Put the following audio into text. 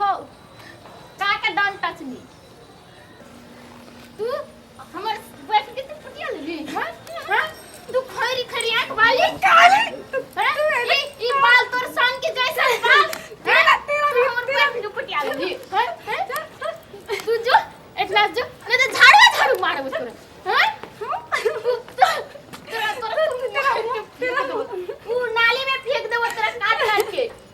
हो काका don't touch me तू हमर बैठ के तू फटिया लेली हां हां तू खरी खरी आंख वाली काली ई ई बाल तोर सन के जैसा बाल तेरा तेरा भी हमर बैठ के फटिया लेली हां तू जो एटला जो नहीं तो झाड़ू झाड़ू मारबो तोरा हां तोरा तोरा तेरा तेरा तू नाली में फेंक देबो तोरा काट काट के